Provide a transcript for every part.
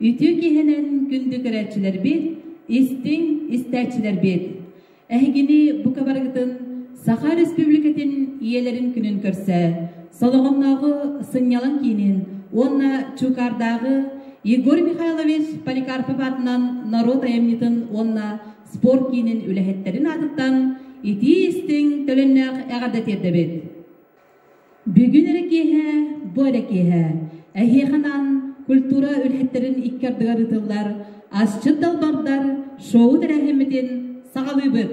Үтүө киһинэн күндү көрөөччүлэрбит, истиҥ истээччилэрбит! Эһигини бука барыгытын Саха Республикатын ийэлэрин күнүн көрсө Солоҕоннооҕу сынньалаҥ киинин уонна Чуукаардааҕы Егор Михайлович Поликарпов аатынан норуот айымньытын уонна спорт киинин үлэһиттэрин аатыттан итии-истиҥ төлөннөөх эҕэрдэ тиэрдэбит. Бүгүн эрэ киэһэ, бу эрэ киэһэ эһиэхэ анаан культура үлэһиттэрин икки ардыгар ыытыллар Асчыт далбардар шоу тэрээһиммитин саҕалыыбыт.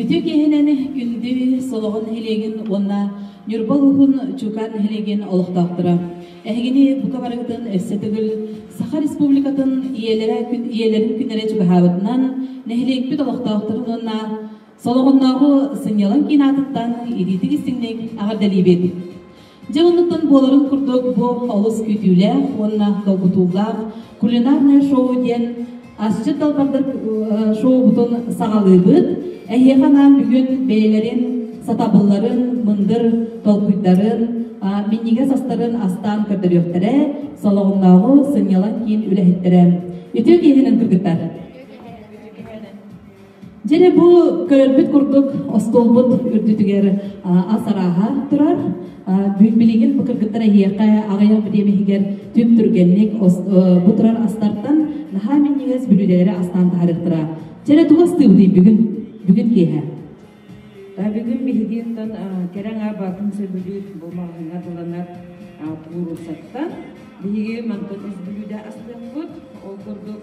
Ити киэһэнэн күндү Солоҕо нэһилиэгин уонна Ньурба улууһун Чуукан нэһилиэгин олохтоохторо, эһигини бука барыгытын өссө төгүл Саха Республикатын ийэлэрэ ийэлэрин күннэрэ чугаһаабытынан, нэһилиэкпит олохтоохторун уонна Солоҕоннооҕу сынньалаҥ киин аатыттан илиитик-истиҥник эҕэрдэлиибит! Дьыл оннуттан буоларын курдук бу олус күүтүүлээх уонна долгутуулаах кулинарное шоу диэн асчыт далбардык шоубутун саҕалыыбыт. Эһиэхэ анаан бүгүн бэйэлэрин сатабылларын, мындыр толкуйдарын, минньигэс астарын астаан көрдөрүөхтэрэ, Солоҕоннооҕу сынньалаҥ киин үлэһиттэрэ үтүө киэһэнэн кыргыттар! Дьине бу көрөрбүт курдук остуолбут үрдүтүгэр ас арааһа турар. Билигин бу кыргыттар эһиэхэ аҕыйах бүтиэм иһигэр түп түргэнник бу турар астартан наһаа минньигэс бүлүүлээри астаан таһарыахтара. Дьине тугу астыыбытый бүгүн бүгүн киэһэ? Бүгүн биһиги оттон кэрэ аҥаабатын сөбүлүүр бу маҕаһыҥҥа дыланар пууруссаттан биһиги мантан үс бүлүүдэ астыахпыт. Ол курдук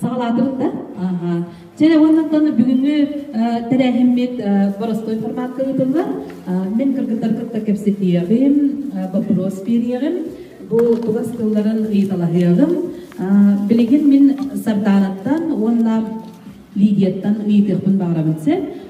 саҕалаатыбыттар. Чэрэ уоннантан бүгүҥҥү тэрээһиммит боростуой форматка ыытыллар. Мин кыргыттар кытта кэпсэтиэҕим, боппуруос биэриэҕим, бу былас тылларын ыйыталаһыаҕым. Билигин мин Сардааныттан уонна Лидияттан ыйытыахпын баҕарабын сөп.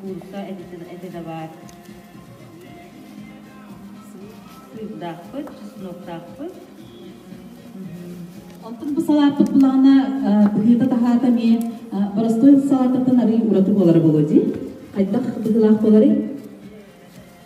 куртка эбитэ да баар сыырдаахпыт чесноктаахпыт Онтон бу салааппыт булаана быһыыта таһаата эмиэ боростуой салаатыттан арыый ураты буолара буолуо дии хайдах быһыылаах буоларый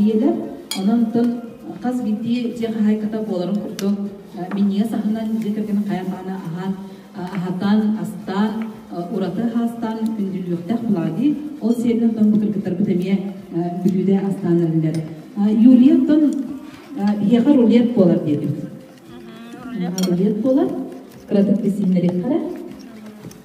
ийэлэр, онон тыл хас биирдии дьиэ хаһаайката буоларын курдук минньигэс аһынан дьиэ кэргэн хайа даҕаны аһаан аһатан, астаан, ураты аһаастаан күндүлүөхтээх буолаҕытий. Ол сиэринэн тон бу кыргыттарбыт эмиэ бүлүүдэ астаан эрэллэр. Юлия, тон биһиэхэ рулет буолар диэтим. Рулет буолар. Кыратык билсиннэриэх хара.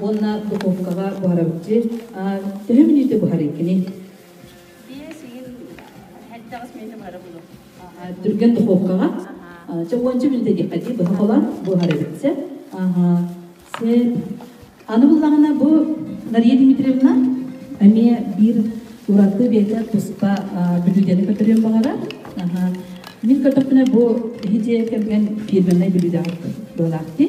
уонна духуопкаҕа буһарабыт дии. Төһө мүнүүтэ буһарыыккыный? Биэс ыйын элбэҕис мүнүүтэ буһара булуох. Түргэн духуопкаҕа чопуонча мүнүүтэ диэххэ дии быһа холоон буһарабыт сэ. Сеп. Аны буллаҕына бу Мария Дмитриевна эмиэ биир ураты бэйэтэ туспа бүлүүдэни көтөрүөн баҕарар. Мин көтөхпүнэ бу иһити кэмгэн фирменнай бүлүүдэ буолаахтыы.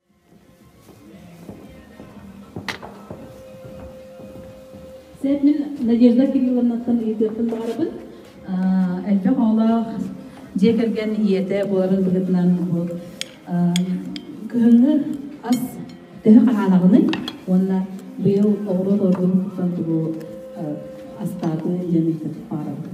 Сэбни Надежда Кирилловнаттан ыйытыахпын баҕарабын. Элбэх оҕолоох дьиэ кэргэн ийэтэ буоларын быһыытынан бу кыһыҥҥы ас төһө хаһаанаҕыный? Уонна быйыл оҕуруот ордугуттан тугу астаатын диэн ыйытык баарабын.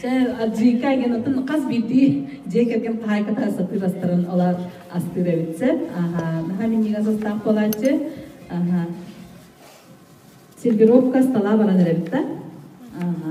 Чэ, Аджика генатын хас биирдии дьиэ кэргэн хаһаайката сатыыр астарын олар астыыр эбитсэ. Аха, наһаа минньигэс астаах буолааччы. Аха. Сервировка стала баран эрэбит да. Аха.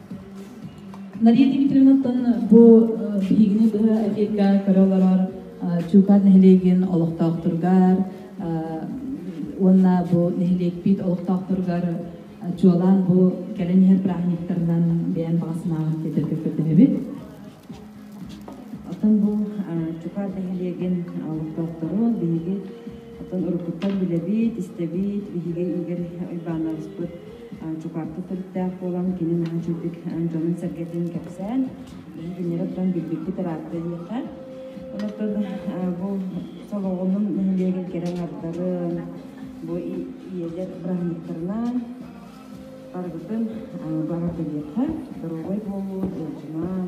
Мария Дмитриевнаттан бу биһигини быһа эфиргэ көрө олорор Чуукан нэһилиэгин олохтоохторугар уонна бу нэһилиэкпит олохтоохторугар чуолаан бу кэлэн иһэр бырааһынньыктарынан бэйэн баҕасынааҕын тиэрдэргэ көрдөһөбүт. Оттон бу Чукаат нэһилиэгин олохтоохтору биһиги оттон уруккуттан билэбит, истэбит, биһиги Игорь Уйбаанабыспыт Чукаапка төрүттээх буолан, кини наадьыйдык дьонун-сэргэтин кэпсээн, билинэрэ туран билбиппит ыраатта диэхэ. Онтон бу солоҕунун нэһилиэгин кэрэ аҥардарын, бу ийэлэр быраһынньыктарынан барыбытын баҕата диэхэ, доруобай буолуу, ыалдьыман,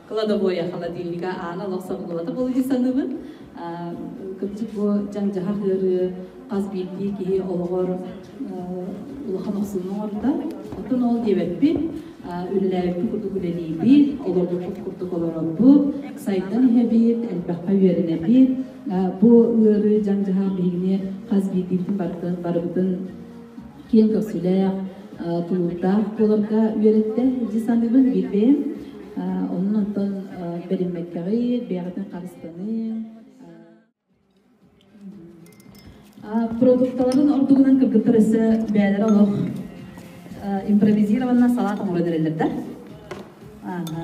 кладовойа, холодильнига аанал охсор дулата буолуйу саныбын. Кырдьык бу дьаҥ-дьаһах ыарыы хас биирдии киһи олоҕор улахан охсууну оҥордо. Оттон ол диэбэппин, үлэлээбиппин курдук үлэлиибит, олорбуппут курдук олоробут, сайдан иһэбит, элбэххэ үөрэнэбит. Бу ыарыы дьаҥ-дьаһах биһигини хас биирдиитин барытын киэҥ көхсүлээх, тулуурдаах буоларга үөрэттэ. Дьэ саныыбын биирдэ. Онон онтон бэриммэккэҕи, бэйэҕитин харыстаныҥ. Продукталарын ордугунан кыргыттар өссө бэйэлэрэ олох импровизированно салат оҥорон эрэллэр да. Аха.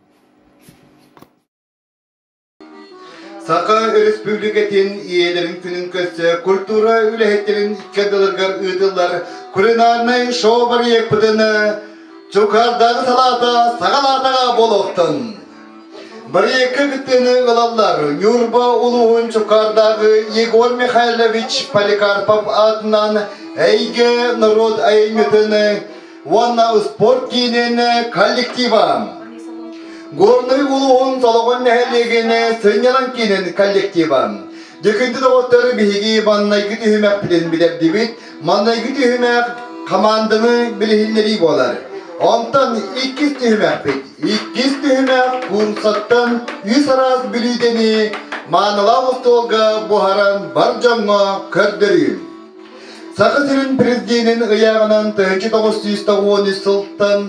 Саха Өрөспүүбүлүкэтин ийэлэрин күнүн көрсө культура үлэһиттэрин икки ардыларыгар ыытыллар кулинарнай шоу-барыйыакпытын Чукардағы салаата саҕалаатаҕа буолуохтун. Барыйыакка кыттыыны ылаллар Ньурба улууһун Чукардағы Егор Михайлович Поликарпов аатынан Эйгэ норуот айымньытын уонна спорт киинин коллективын Горный улууһун Толоҕон нэһилиэгин сынньалаҥ киинин коллективын Дьэкинди доҕоттор биһиги маннайгы түһүмэхпитин билэрдибит. Маннайгы түһүмэх хамаанданы билиһиннэрии буолар. Онтон иккис түһүмэхпит. Иккис түһүмэх Куумсаттан үс араас бүлүүдэни маанылаах остуолга буһаран бар дьоҥҥо көрдөрүү. Саха сирин президенин ыйааҕынан тыһыынча тоҕус сүүс тоҕуон үс сылтан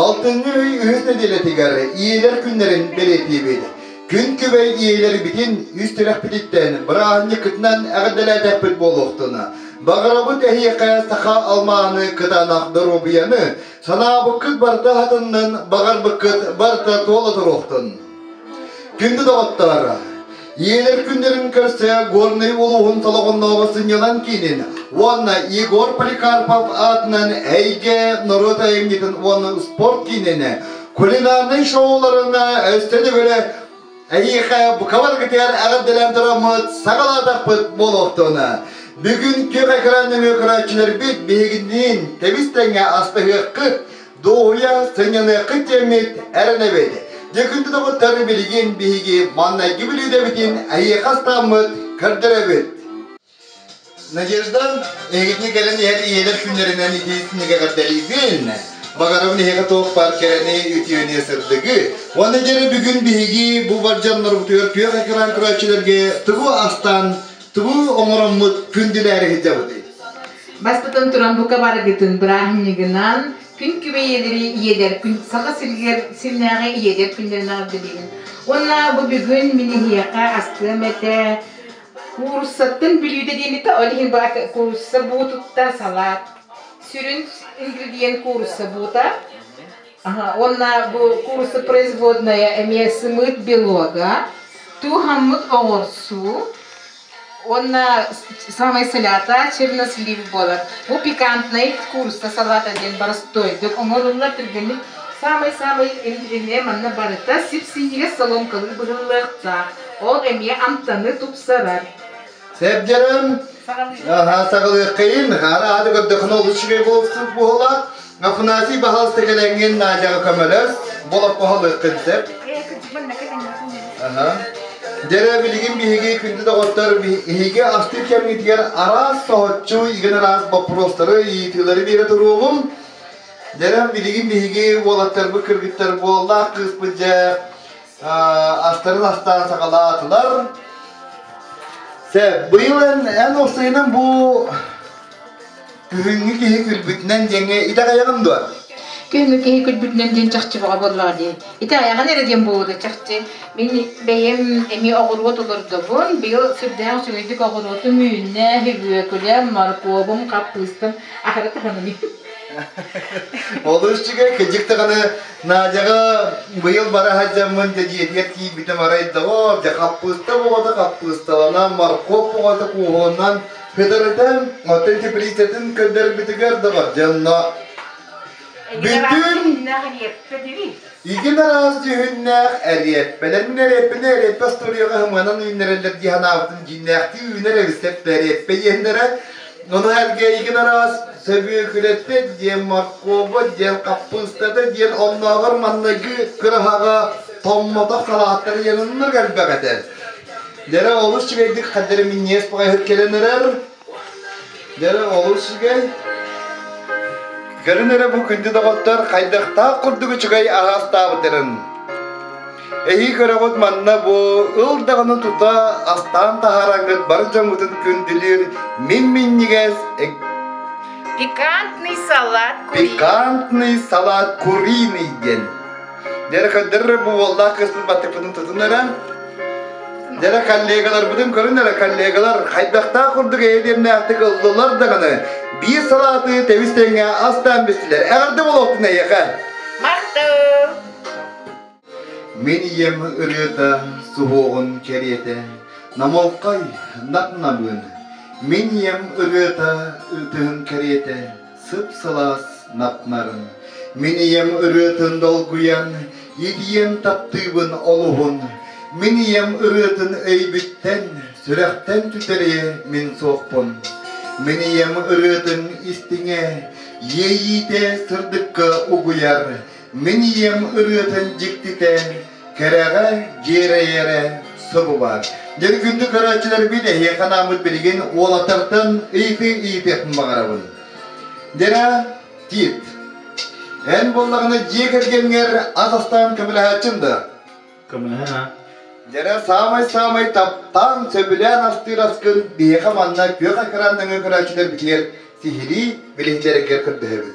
алтынньы ый үһүс нэдиэлэтигэр ийэлэр күннэрин бэлиэтиибит. Күн күбэй ийэлэр бүтүн үс тирэхпититтэн бырааһынньыккытынан эҕэрдэлээтэхпит буолуохтуна. Баҕарабыт эһиэхэ саха алмааны кытаанах доруобуйаны, санаабыккыт барыта аһатыннын, баҕарбыккыт барыта туола туруохтун. Күндү доҕоттор, ийэлэр күннэрин көрсө Горнай улууһун Толоҕоннооҕу сынньалаҥ киинин уонна Егор Поликарпов аатынан Эйгэ норуот айымньытын уонна спорт киинин кулинарнай шоуларын өстө төгүлэ эйиэхэ бука барыгытыгар эҕэрдэлээн тураммыт саҕалаатахпыт буолуохтун. Бүгүн күөх экран нөҥүө көрөөччүлэрбит биһигинниин тэбис тэҥҥэ астыһыаххыт, Дуоһуйа сынньаныаххыт дьэммит эрэнэбит. Дьыкынтытабыттар билигин биһиги маннайгы бүлүүдэбитин эһиэхэ астааммыт көрдөрөбүт. Надежда, эһигитин кэлэн иһэр ийэлэр күннэринэн ити синигэҕэрдэлиигин. Багарабын эһиэхэ туох баар кэрэни үтүөнүө сырдыгы. Уонна дьэрэ бүгүн биһиги бу бар дьоннорбутугар түөх экран көрөөччүлэргэ тугу астаан Тугу оҥороммут күн дилээри сылдьабытый? Баспытын туран бука барыгытын бырааһынньыгынан күн күбэйэлэри иэдэр күн Саха сиригэр сирнээҕи иэдэр күннэринэҕэр билигин. Уонна бу бүгүн мин эһиэхэ астыам этэ кууруссаттан бүлүүдэ диэнита ол иһин бу куурусса буу тутта салаат сүрүн ингредиент куурусса буута Ага, уонна бу курса производная эмиэ сымыыт белога, туһаммыт оҥорсуу уонна самай салята чернослив буолар. Бу пикантнай курса салата диэн боростойдук оҥоруллар түргэнник самай-самай интирине манна барыта сипсиигэ соломкалыы быһыллыахтаах. Ол эмиэ амтаны тупсарар. Сэрдерем, саҕалыаххайын, хаана аады көрдөхүнө олус үчүгэй буолсук буола, Афанасий баһалты кэлэҥҥин Наадьаҕа көмөлөс, болох баһалыаххын деп. Дэрэ билигин биһиги күндү доҕоттор биһиги астыы кэмҥитигэр араас соһуччу игэн араас боппуруостары ыйытыылары биэрэ туруоҕум. Дэрэ билигин биһиги уолаттарбыт кыргыттар буоллаах кыыспыт дьэ астарын астаан саҕалаатылар. быйыл эн, эн охсуйунан бу күһүҥҥү киһи күлбүтүнэн дьэҥэ итэҕэйэҕин дуо? Күһүҥҥү киһи күлбүтүнэн диэн чахчы баҕа буоллаҕа дии. Ити айаҕын эрэ диэн буолуо чахчы. Мин бэйэм эмиэ оҕуруот олордобун. Быйыл сүрдээх үчүгэйдик оҕуруотум үүннэ, үбүөкүлэм, моркуобум, хаппыыстым. Ахыра туһаными. Ол үчүгэй, кыдьык даҕаны Надяҕа быйыл бара сылдьаммын дьэдьиэтигэр киирбитим арай доҕоор, дьэ хаппыыста боҕото хаппыысталанан, моркуоп боҕото кууһунан хытырытан, оттон теплицатын көрдөрбүтүгэр доҕор дьонно Бүтүн итин араас дьүһүннээх эриэппэлэрин эриэппэни эриэппэ устуоруйаҕа сыманан үүннэрэллэр дии санаабытым дьиҥнээхтии үүнэр эбистэр эриэппэ иэннэрэ Нуну эргээйигин араас сөбүөкүлэппэт диэн морково диэн хаппыыстата диэн оннооҕор манныгы кыраһаҕа томмотох салааттан ыйаныннар кэлбэх этэ. Лера олус үчүгэйдик хаддары минньиэс поҕайһыт кэлэн эрэр. Лера олус үчүгэй. Көрөн эрэ бу күндү доҕоттор хайдахтаах курдук үчүгэй араастаабытырын. Эһии көрөҕүт манна бу ыл даҕаны тута астаан таһаараҥҥыт бар дьоҥҥутун күндүлүүр мин-минньигэс пикантный салат кури пикантный салат куриный диэн дьэрэ көрдөр бу уоллаах кыспын баттыппытын тутун өрөөн дьэрэ коллегаларбытын көрүн эрэ коллегалар хайдахтаах курдук эһиэмнээхтик ыллылар даҕаны биир салааты тэбис тэҥҥэ астаан бистилэр эҕэрдэ болуохтун эйиэхэ махтал Мин ийэм ырыата, суһуоҕун кэриэтэ, намолкай, нап-намыын. Мин ийэм ырыата, ытыһын кэриэтэ, сып-сылаас нап-нарын. Мин ийэм ырыатын долгуйан, итийэн таптыыбын олуһун. Мин ийэм ырыатын өйбүттэн, сүрэхтэн түтэриэ мин суохпун. Мин ийэм ырыатын истиҥэ, иэйиитэ сырдыкка угуйар. Мин ийэм ырыатын дьиктитэ, кэрэҕэ дьиэрэйэрэ субу баар. Ньыргынды көрөөччүлэрбин эһиэхэ анааммыт билигин уолатартан ыйытыы ыйытыахпын баҕарабын. Нера Тит. Эн буоллаҕына дьиэ кэргэҥҥэр ас астаан көмөлөһөөччүм да? Көмөлөһө. Нера саамай-саамай таптаан, сөбүлээн астыыр аскын биһиэхэ манна күөх экран нөҥүө көрөөччүлэрбитигэр сиһилии билиһиннэрэргэр көрдөһөбүн.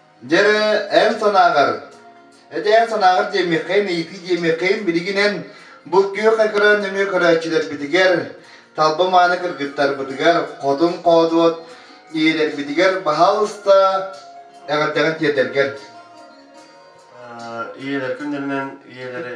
Дьэ, эн санааҕар, эдэр санааҕар диэммиэххэйин, эйиэхэ диэмиэххэйин билигинэн бу күөх экран нөҥүө көрөөччүлэрбитигэр, талба мааны кыргыттарбытыгар, хотун хоодуот ийэлэрбитигэр баһаалыста эҕэрдэҕин тиэрдэргэр. Ийэлэр күннэринэн ийэлэри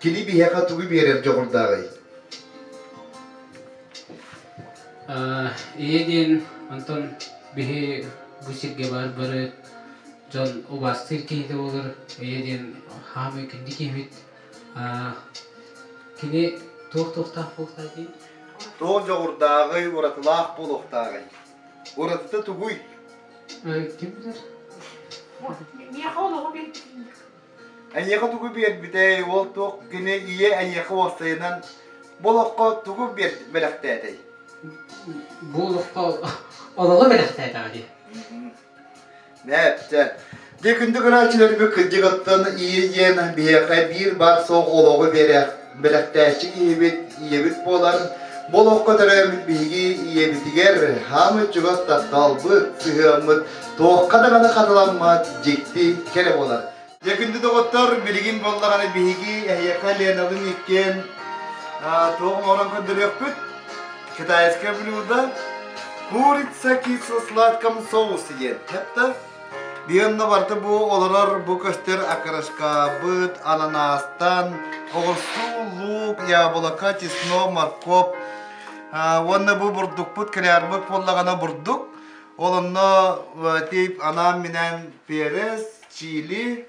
Кини биһиэхэ тугу биэрэр дьоҕурдааҕый? Ийэ диэн онтон биһи бу сиргэ баар бары дьон убаастыыр киһитэ буолар ийэ диэн хаамыы күндү киһибит. Кини туох туохтаах буолтай дии? Туох дьоҕурдааҕый, уратылаах буолуохтааҕый? Уратыта тугуй? Э, Ким билэр? Миэхэ олоҕу билбитин Эйиэхэ тугу биэрбитэй, уол туох гыны ийэ эйиэхэ уопсайынан бу олоххо тугу биэр бэлэхтээтэй? Бу олоххо олоҕу бэлэхтээтэҕэ дии. Мээпчэ, дьэ күндү көрөөччүлэрбит кырдьыгыттан ийэ ийээн биһиэхэ биир баар суох олоҕу биэрэ бэлэхтээччи киһибит, ийэбит буолан, бу олоххо төрөөбүт биһиги ийэбитигэр хаамыт чугас тапталбыт, сыһыаммыт туохха даҕаны хатыламмат дьикти кэрэ буолар. Дьэ күндү доҕоттор, билигин буоллаҕына биһиги эһиэхэ Ленабын иккиэн туох оҥорон көрдөрүөхпүт. Китайское блюдо курица кисло-сладком соусе диэн. Кэпта Дианна барыта бу олорор бу көстөр акырыскаабыт ананаастан оҕурсуу, луук, яблоко, чеснок, морковь уонна бу бурдукпут кылаарбыт буоллаҕына бурдук. Ол онно тип анаан-минээн перец, чили,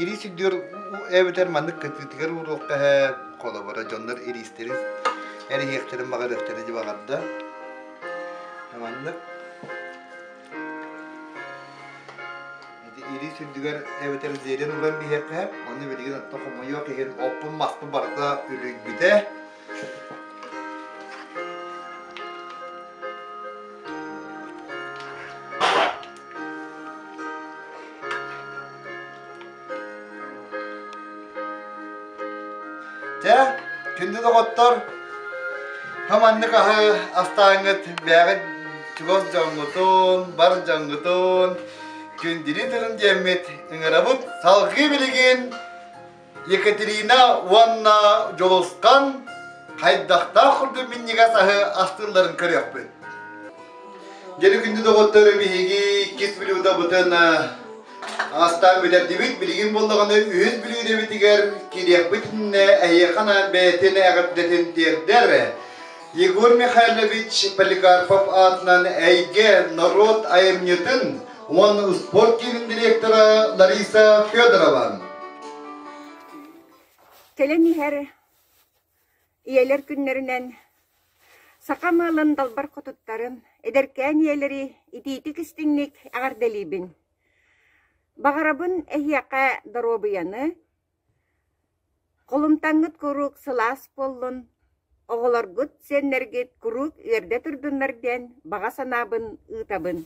Ирии сирдиэр эбэтэр маннык кытыытыгар уруокка эһээт, холобура дьоннор ириистэрин эриһиэхтэрин баҕарыахтарын дьыбаҕарда. Маннык ирии сүрдүгэр эбэтэр зерен уран биһиэхэ, оны билигин оттон хомойуох иһин оппун-маспын барыта үлүйбүтэ. Дьэ, күндү доҕоттор, хоманнык аһы астааҥҥыт бээҕит чугас дьоҥҥутун, бар дьоҥҥутун, күндүлүү тылын диэммит ыҥырабыт салгыы билигин Екатерина уонна Дьулусхан хайдахтаах курдук минньигэс аһы астыылларын көрүөхпүт. Дьэри күндү доҕоттор, биһиги иккис блюдабытын астаан бүтэрдибит. Билигин боллоҕуна үһүс блюдабытыгар кириэхпит иннэ эһиэхана бэйэтин эҕэрдэтин тиэрдэр. Егор Михайлович Поликарпов аатынан эйгэ норуот айымньытын уонна успуорт киинин директора Лариса Федорова. Кэлэн иһэр ийэлэр күннэринэн саха маалын далбар хотуттарын эдэркээн ийэлэри итиитик-истиҥник эҕэрдэлиибин. Баҕарабын эһиэхэ доруобуйаны, Холумтаҥҥыт куруук сылаас буоллун, оҕолоргут, сиэннэргит куруук үөрдэ турдуннар диэн баҕа санаабын ыытабын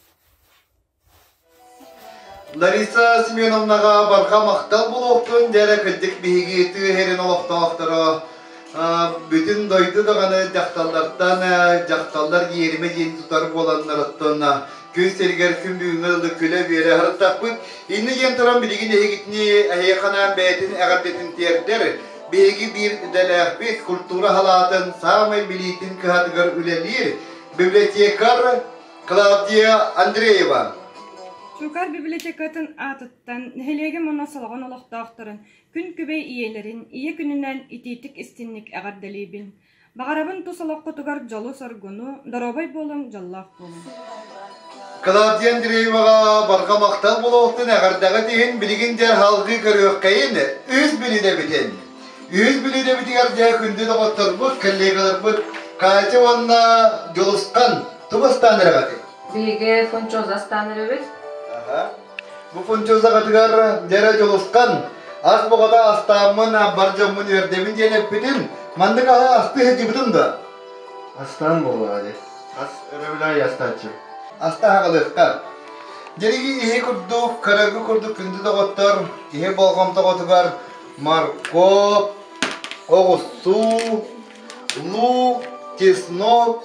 Лариса Семеновнаҕа барҕа махтал буолуохтун диэн кырдьык биһиги тыы иһэрин олохтоохторо бүтүн дойду даҕаны дьахталлартан дьахталлар иэримэ диэн тутар буоланнарыттан күн сиригэр күн бүгүҥҥэ дылы күлэ-үөрэ сырыттахпыт иннэ диэн туран билигин эһигитини эһиэхэнаан бэйэтин эҕэрдэтин тиэрдэр биһиги биир идэлээхпит культура салаатын саамай билиитин кыһатыгар үлэлиир библиотекарь Клавдия Андреева. Чуукар библиотекатын аатыттан нэһилиэгим уонна солоҕон олохтоохторун Күн күбэй ийэлэрин ийэ күнүнэн итиитик истинник эҕэрдэлиибин. Баҕарабын тус олоххутугар дьолу-соргуну, доруобай буолуҥ, дьоллоох буолуҥ. Клавдия Андрееваҕа барҕа махтал буолуохтун, эҕэрдэҕит иһин билигин дьэ салгыы көрүөххэйин, үһүс билиинэбитин. Үһүс билиинэбитигэр дьэ күндү доҕотторбут, коллегаларбыт Катя уонна Дьулустан, тугу астаан эрэҕитий? Биһиги функциоза астаан эрэбит. Аха. Бу хунчуллаҕытыгар дьэрэ дьулусхан, ас боҕото астааммын, абар дьоммун үөрдэбин диэн эппитим, маннык аһы асты сылдьыбытым да. Астаан буолуоҕа дии. Ас өрөбүлэ астааччы. Астаһаҕалыахха. Дьэриги иһи курдук, карагы курдук күндү доҕоттор, иһи болҕомтоҕутугар морковь, оҕустуу, лук, чеснок,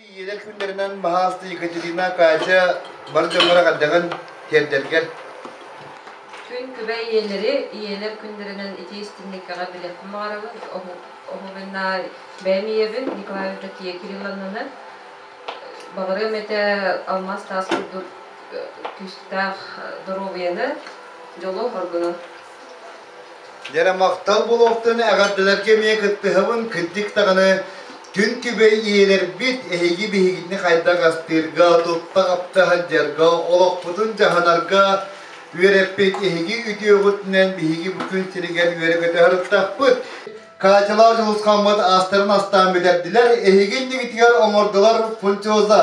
Ийэлэр күннэринэн Маһаасты Екатерина, Катя бары дьоннор эҕэрдэҕин тиэрдэргэр. Күн күбэ ийэлэри, ийэлэр күннэринэн итиэстинниккэҕэ билиэххэ баҕарабын. Оһугана бэйэм ийэбин Николай Евдокия Кирилловнаны баҕарыам этэ алмаас таас курдук күүстээх доруобуйаны, дьолу, оргуну. Дэрэ махтал буолуохтан эҕэрдэлэргэ эмиэ кыттыһабын кырдьык даҕаны күн күбэй ийэлэрбит эһиги биһигини хайдах астыырга, тутта хапта сылдьарга, олохпутун дьаһанарга үөрэппит эһиги үтүөҕүтүнэн биһиги бу күн сиригэр үөрэ-көтө сырыттахпыт. Каачалаах дьулусхаммыт аастарын астаан бүтэрдилэр, эһиги иннигитигэр оҥордулар функциоза.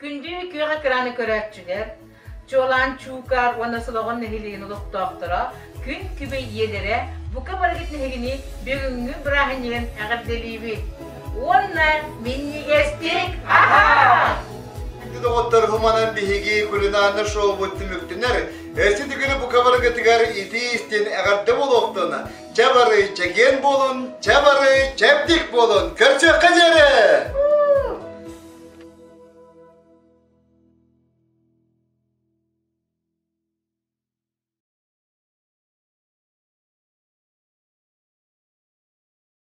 Күндү күөх экраны көрөөччүлэр, чуолаан Чуукар уонна Солоҕон нэһилиэгин олохтоохторо күн күбэй ийэлэрэ бука барыгыт нэһигини бүгүҥҥү бырааһынньыгын эҕэрдэлиибит уонна минньигэстик аһаа! Күндү доҕоттор хуманан биһиги кулинарный шоубут түмүктэнэр. Эрси төгүрү бука барыгытыгар итии-истин эҕэрдэ буолуохтуна Чэ бары чэгиэн буолун, чэ бары чэбдик буолун, көрсүөххэ диэри!